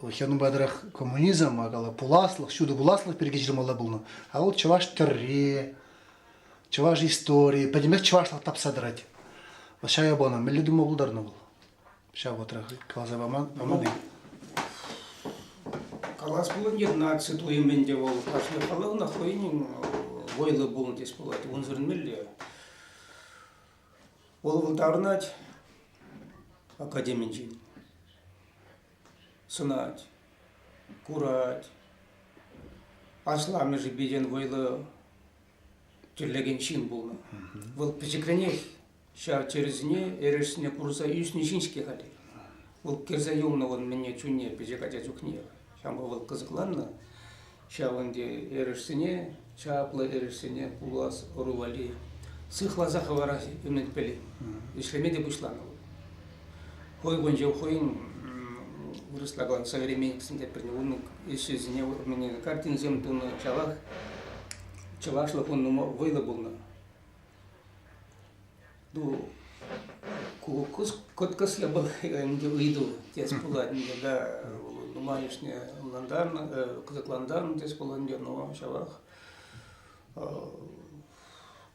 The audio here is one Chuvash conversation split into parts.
Вӑл ҫавӑнпа тӑрах коммунизм, акала пуласлӑх, ҫутӑ пуласлӑх пирки ҫырмалла пулнӑ. А вот чӑваш тӗрри, чӑваш истории, пӗтӗмпех чӑвашлӑх тапса тӑрать. Вӑл ҫая панӑ. Мӗнле тума пултарнӑ вӑл? Ҫав вӑтрах каласа паман, паман-и? Калас пулать, наци туйӑм ӗнтӗ вӑл кашни халӑхна хӑйӗн вӑйлӑ пулнӑ тес пулать. Унсӑрӑн мелле Вӑл выртарӑнать академинчен, сӑнать, курать. Асламӑшӗпе вӑйлӑ тӗрлекен ҫын пулнӑ. Вӑл пӗчӗкренех ҫар чӗрӗсене, эрешсене курса ӳснӗ ҫын-ҫке халӗ. Вӑл кӗрсе юлнӑ вӑл мӗнне чунне, пӗчӗк ача чухне. Ҫавӑнпа вӑл кӑсӑкланнӑ. Ҫавӑн эрешсене, чаплӑ эрешсене пулас ӑру валли сыхласа хӑварас ӗмӗтпеле ӗҫлеме те пуҫланӑ вӑл. Хӑй кунче хӑйӗн вырӑсла калан современниксенче пӗлнӗ унӑн ӗҫӗсене картинӑсем тунӑ чалах чӑвашлӑх ун нумай вӑйлӑ пулнӑ. Ну, кӑткӑслӑ вӑл ӗнтӗ ыйту тес пулать ӗнтӗ да нумайӑшне ӑнлантарнӑ, кӑсӑклантарнӑ тес пулать ӗнтӗ, но ҫавах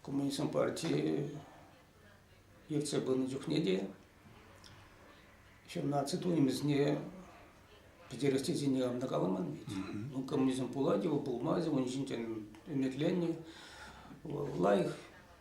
коммунистсен партии ертсе пынӑ чухне те ҫав наци туйӑмӗсене пӗтерес тесен ӑна каламан ведь. Ну, коммунизм пулать его, пулмасть, он ӗҫӗнчен ӗмӗтленнӗ, лайӑх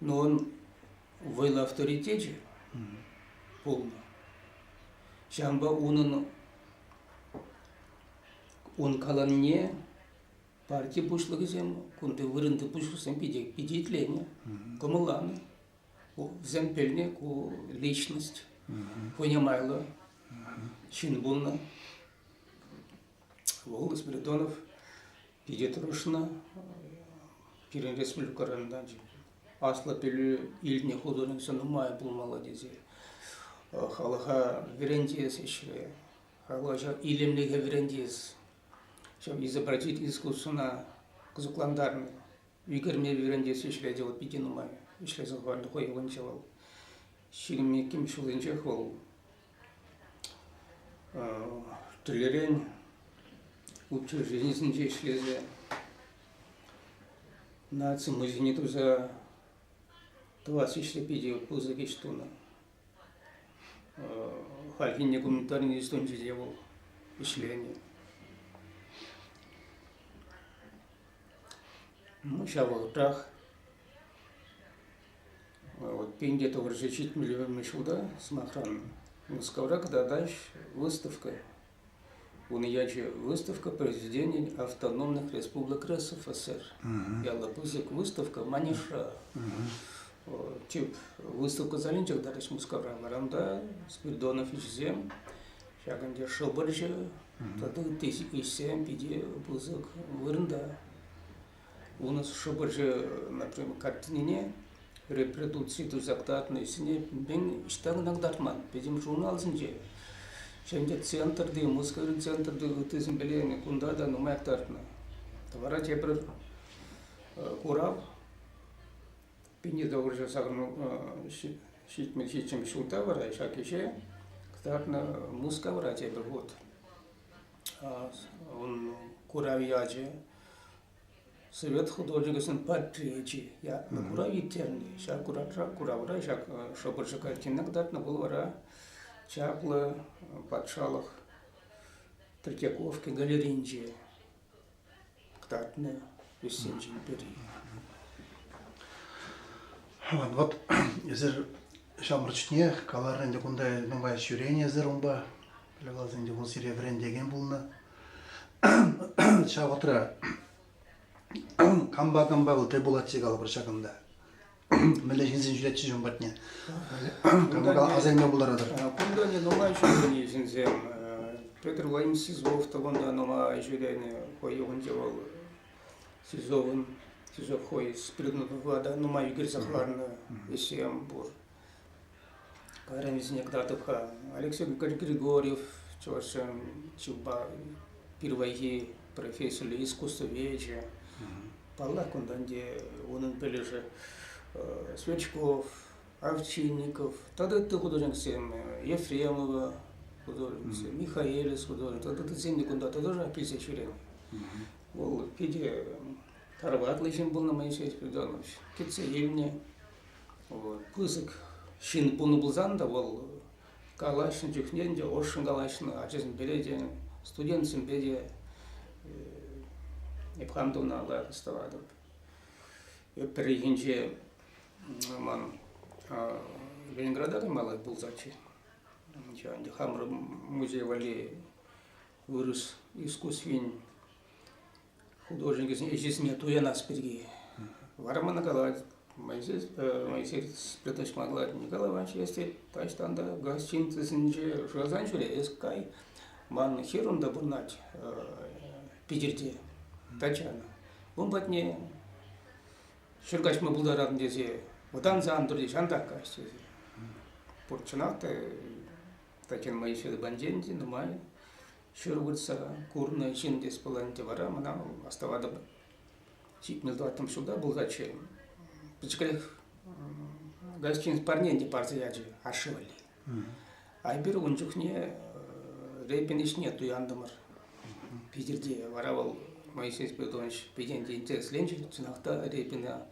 Но он вӑйлӑ авторитечӗ пулнӑ. Ҫавӑнпа унӑн ун каланне парти пуҫлӑхӗсем кунти вырӑнти пуҫлӑхсем питӗ, питӗ итленӗ, кӑмӑлланӑ. Вӗсем пӗлнӗ ку личность, понимайлӑ ҫын пулнӑ. Вол Спиридонов питӗ тӑрӑшнӑ. Пирӗн республикӑран та аслӑ пӗлӳ илнӗ художница нумай пулмалла тесе халӑха вӗрентес ӗҫре, халӑха илемлӗхе вӗрентес, ҫав изобразить искусствӑна кӑсӑклантарнӑ, ӳкерме вӗрентес ӗҫре те вӑл питӗ нумай ӗҫлесе хӑварнӑ хӑй ывӑлӗнче вӑл. Ҫирӗм иккӗмӗш ҫулӗнчех вӑл Тӗлӗрен учрежденисенче ӗҫлесе наци музейне туса тӑвас ӗҫре питӗ пысӑк ӗҫ тунӑ. Хальхинче гуманитарин институтӗнче те вӑл ӗҫленӗ. Ну, ҫав вӑхӑтрах Вот Пенде товарища ҫитмӗлӗмӗ ҫулта, сӑмахран, Мускавра кӑтартаҫҫӗ выставка. Унӑн ячӗ «Выставка произведений автономных республик РСФСР». Яллӑ пысӑк выставка Манежра. Вот, тип выставка залӗнче кӑтартаҫҫӗ Мускавра. Варамта Спиридонов ӗҫӗсем, ҫакӑн те шӑпӑрчӑ тата ытти ӗҫсем питӗ пысӑк вырӑнта. Унӑн шӑпӑрчӑ картинине репродукци туса кӑтартнӑ ӗҫсене мӗн ӑҫта кӑна кӑтартман пӗтӗм журналсенче. Ҫӗнӗ центрти, Мускаври центрти ыттисем пӗлеймӗн, кунта та нумай кӑтартнӑ. Тавара тепӗр курав Пенедовырҫа сакӑрмӑн ҫитмӗл ҫулта вара ҫак ӗҫе кӑтартнӑ Мускавра тепӗр хут. Ун курав ячӗ Совет художникӗсен портреечӗ ятлӑ курав ирттернӗ. Ҫак куравра, куравра ҫак шӑпӑрчӑ картина кӑтартнӑ вӑл вара чаплӑ патшалӑх Третьяковки галерейинче кӑтартнӑ туссенчен пӗри. Вот эсир ҫамрӑк чухне каларӑн ӗнтӗ кунта нумай ҫӳренӗ эсир унпа. Пӗле валсен те вӑл сире вӗрентекен пулнӑ. Ҫав вӑхӑтра кампа кампа вӑл тӗл пулатчӗ калӑпӑр ҫакӑнта. Мӗнле ҫынсен ҫӳретчӗ ҫын патне. Кампа асайма пултаратӑр. Кунта не нумай ҫынсене ҫынсем Петр Владимирович СИЗОВ тӑвӑнта нума ҫӳренӗ хӑй юхӑнче вӑл СИЗОвӑн СИЗО хӑй спригнутовлада нумай ӳкерсе хӑварнӑ вещем пур. Кайран вӗсене кӑтартӑп-ха. Алексей Григорьев чӑвашсен чунпа пирвайхи профессиллӗ искусствовечӗ. Паллах, кунтан те унӑн пӗлӗшӗ Сверчков, Овчинников тата ытти художниксем, Ефремова художниксем, Михаэлис художник тата ыттисем те кунта тоже килсе ҫӳренӗ. Вӑл питӗ тарватлӑ ҫын пулнӑ Моисей Спиридонович. Кӗтсе илнӗ. пысӑк ҫын пулнӑ пулсан та вӑл калаҫнӑ чухне ӗнтӗ ӑшшӑн калаҫнӑ ачасемпе те студентсемпе те эп хам та ӑна лайӑх астӑватӑп. Пӗррехинче ман Ленинграда каймалла пулсаччӗ. Ӗнтӗ хамӑр музей валли вырӑс искусствин художникӗсен ӗҫӗсене туянас пирки. Вара мана калать, Моисей, Моисей Святой калать, Николай Иванович, если таҫтан та газ ҫыннисенче шырасан ҫӳре, эс кай, ман ҫырӑм та пурнать Питӗрте, датчана. Ун патне ҫӗр каҫма пултаратын тесе вӑтанса ан турте, ҫантах каҫ тесе. Пурчченах та Татьяна Моисеевна Банденти нумай Ҫыр выртса курнӑ ҫын тес пуль ӗнтӗ вара мана астӑватӑп. Ҫитмӗл тӑваттӑмӗш ҫулта пулсаччӗ. Пӗчӗкрех гостиница парне ӗнтӗ парса ячӗ ашшӗ валли. Айпир ун чухне репин ӗҫне туянтӑмӑр. Питӗрте вара вӑл Моисей Спиридонович пикенте интересленчӗ. Чӑнах та репина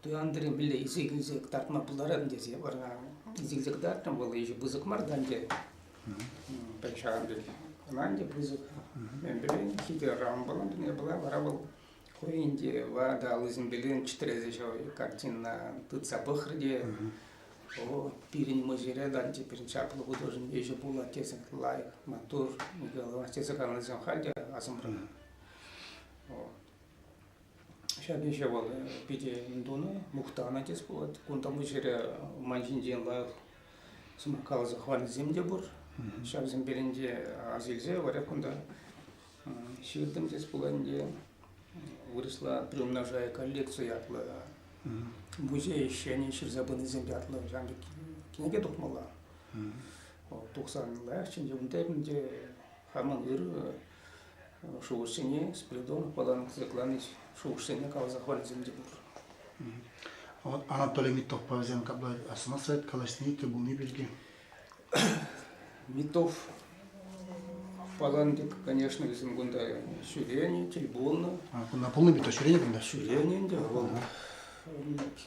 туянтӑр мӗнле илсе килсе кӑтартма пултарать тесе вара илсе кӑтартрӑм. Вӑл еще пысӑк мар та ӗнтӗ. Пӗр ҫавӑн пек ӑна ӗнтӗ пысӑк. Эмпирен ҫитӗ Рамбӑлан тӗне пыла вара вӑл хӑйӗн те ватӑ аллисемпе ленчтерсе ҫав картина тытса пӑхрӗ те о пирӗн мӑшӑрӗ танчи пирӗн чаплӑ художник ӗҫӗ пулать тесе лайӑх маттур Николай тесе каланӑ халь те асӑмран. Ҫак ӗҫе вӑл питӗ тунӑ, мухтанӑ тес пулать. Кунта мӑшӑрӗ ман ҫинчен лайӑх каласа хӑварнисем те пур. Ҫавсен пелӗнче аз илсе вара кунта ҫыртӑм тес пулать те вырӑсла приумножая коллекцию ятлӑ музей ӗҫченӗ ҫырса пынисем ятлӑ ҫав кӗнеке тухмалла. Тухсан лайӑх ӗнтӗ унта ӗнтӗ хамӑн ырӑ шухӑшсене Спиридонов патан кӑсӑкланӗҫ, шухӑшсене каласа хӑварнисем те пур. Анатолий Митовпа вӗсем капла асӑнасса калаҫни те пулни пирки. Митов фаланги, конечно, вӗсем кунта ҫӳренӗ, тельбонно. Кунта пулнӑ Митов ҫӳренӗ кунта? Ҫӳренӗ ӗнтӗ. Вӑл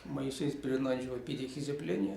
Моисей Перенанчева питӗ хисеплени.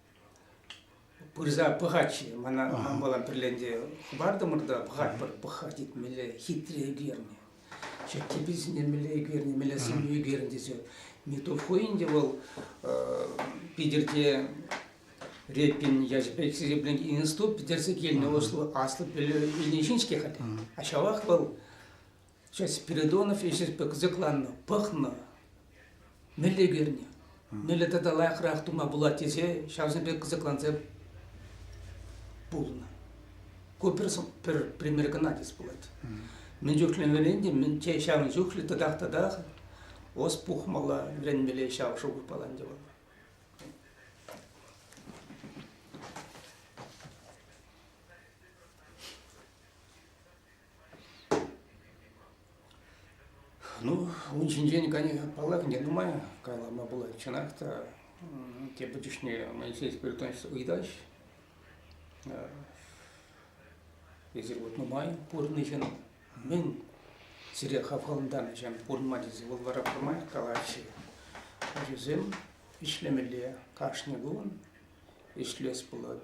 пырса пӑхать-ши мана ман мала пӗрле ӗнтӗ хӑпартӑмӑр та пӑхатпӑр пӑх-ха тетмелле хитре ӳкернӗ чертепе сӳнтермелле ӳкернӗ мӗнле сӗнӳ ӳкернӗ тесе не то хуй ӗнтӗ вӑл питӗрте репин ячӗпе хисепленӗ институт питӗрсе килнӗ аслӑ пӗлӳ илнӗ ҫын-ҫке халӗ а ҫавах вӑл Сейчас Спиридонов ӗҫӗпе кӑсӑкланнӑ, пӑхнӑ, мӗнле кӳрнӗ, мӗнле тата лайӑхрах тума пулать тесе ҫавсем пек кӑсӑкланса пулнӑ. Ку пӗр, пӗр пример кӑна тес пулать. Мӗн чухлӗ вӗрентӗм, те ҫавӑн чухлӗ тӑтах-тӑтах ос пухмалла, вӗренмелле ҫав шухӑшпала ӗнтӗ вӑл. Ну, ун ҫинчен, конечно, паллах, не думаю, калама пулать. Чӑнах та, тепӗр чухне Моисей Спиритонович ыйтаҫ, эсир вот нумай пурӑнӑҫӑн мӗн сире хавхалантарнӑҫем пурӑнма тесе вӑл вара пӗрмай калаҫҫӗ. Ачасем ӗҫлемелле кашни кун, ӗҫлес пулать.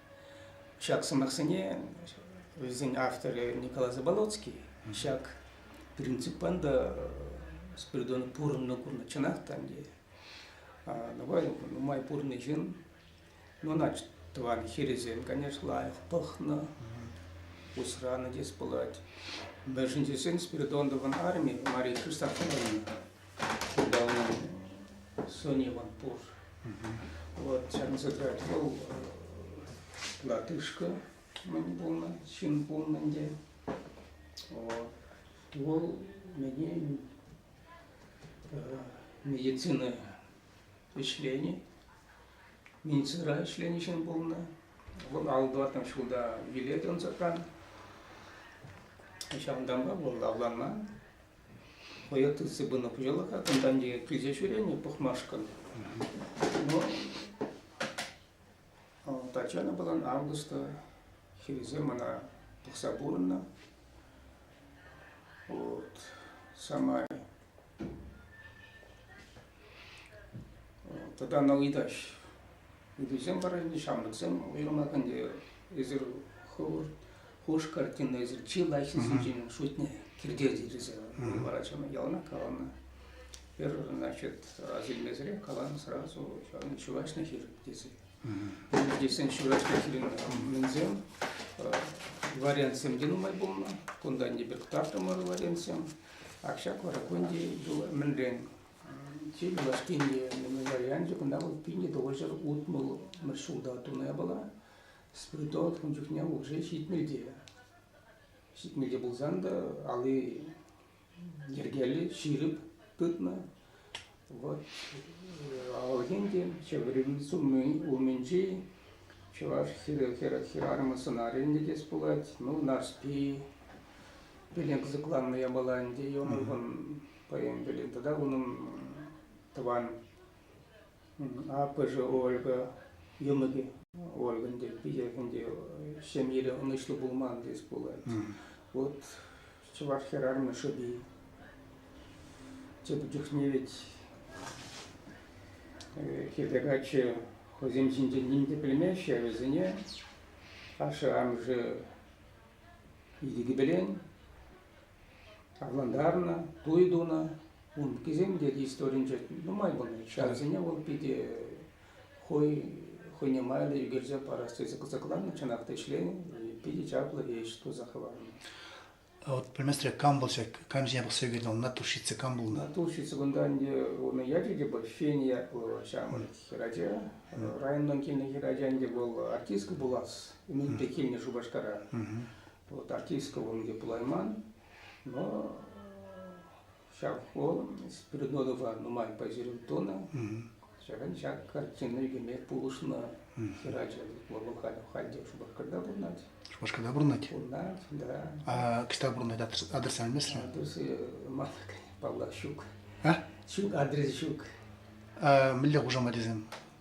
Ҫак сӑмахсене вӗсен авторӗ Николай Заболоцкий ҫак принциппан та Спиридон пурӑннӑ курнӑ чӑнах та ӗнтӗ. Нумай, нумай пурнӑ ҫын, ну ӑна тӑван хирӗсем, конечно, лайӑх пӑхнӑ, усранӑ тес пулать. Мӗншӗн тесен Спиридоновӑн армийӗ Мария Христофоровна Ҫуралнӑ Сониман пур. Вот чансӑрать вӑл латышка мӗн пулнӑ, ҫын пулнӑ ӗнтӗ. Вӑл мені медицина ӗҫлени, медицина ӗҫлени ҫын пулнӑ. Вӑл аллӑтан ҫулта виле тӑнсӑран ҫавӑнтанпа вӑл авланман. Вӑйӑ тытси пынӑ пуҫалӑха тӑнтанчӑк килсе ҫӳренӗ пӑхмашкӑн. Но Татьяна Балан августа хирӗҫе мана пӑхса пурӑннӑ. Вот самай тата на ыйтаҫ. Ыйтусем вара ӗнтӗ ҫамрӑксем уйрӑмах ӗнтӗ эсир хӑвӑр Хуш картинӑсӑр чи лайӑххи сӗнчен шутне кирте тиресе вара чама ялана каланӑ. Пер, значит, разилмесӗрех каланӑ сразу ҫавӑн ҫураҫна хир тесе. Тесен ҫураҫна хирин мӗнсем вариантсем те нумай пулнӑ. Кунтан те пек тартӑмӑр вариантсем. Ак ҫак вара кунти юла мӗнрен чи юлашкинчи варианчӗ кунта вӑл пинне тӑвӑҫӑр утмӑл мӗш ҫулта туна была. Спиртовод ун чухне улши ҫитмӗлте. Ҫитмӗлте пулсан та али йӗркеллӗ ҫирӗп тытнӑ. Вот Алгентин ҫӗврин суммин умӗнчи чӑваш хӗрарӑмӗ сӑнарӗнче те пулать. Ну, Нарспи пӗлен кӑсӑкланнӑ япала ӗнтӗ. Унӑн хӑйӗн пӗлен тата унӑн тӑван Аппӑшӗ Ольга йӑмӑкӗ Ольгӑн те питӗ ӗнтӗ ҫемьере ӑнӑҫлӑ пулман тес пулать. Вот чӑваш хӗрарӑмӗ шӑпи. Тепӗр чухне ведь хӗрпе каччӑ хӑйсем ҫинчен ним те пӗлмеҫҫӗ, вӗсене ашшӗ-амӑшӗ Йӗкӗпелен авлантарнӑ, туй тунӑ. Ункисем те историнче нумай пулнӑ. Ҫарсене вӑл питӗ хӑй хӑйне майлӑ ӳкерсе парас тесе кӑсӑкланнӑ. Чӑнах та ӗҫленӗ. Питӗ чаплӑ ӗҫ туса хӑварнӑ. А вот пӗлместре кам вӑл ҫак, кам ҫине пӑхса ӳкернӗ вӑл, натурщица кам пулнӑ? Натурщица кунта ӗнтӗ унӑн ячӗ те пуль Фения ял ҫамрӑк хӗрача. Районтан килнӗ хӗрача ӗнтӗ вӑл артистка пулас Мӗн те килнӗ Шупашкара. Вот артистка он где пулайман, но ҫав хол Спиридонова нумай пайсерен тунӑ. Ҫакӑн ҫак картина ӳкӗме пулӑшнӑ хӗрача. Вӑл халь те Шупашкарта пурӑнать. Шупашкарта пурӑнать? Пурӑнать, да. А кӑҫта пурӑнать адреса алместсӗр? Адресы ман, паллах, ҫук. А? Ҫук, адрес ҫук. А мӗнле хушамат тесен?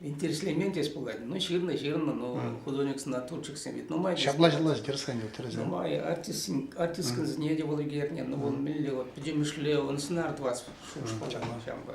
интереслемен теес пулать. Ну, ҫырнӑ, ҫырнӑ, ну, художниксен натурщиксем ведь нумай. Ҫапла ҫапла тӗрӗсен тӗрӗсен. Нумай артистсен артистскан сне те вӑл ӳкернӗ, ну, вӑл мӗнле, вот, пӗтӗмӗшле, он сценар 20 шухӑш пулчак ҫампа.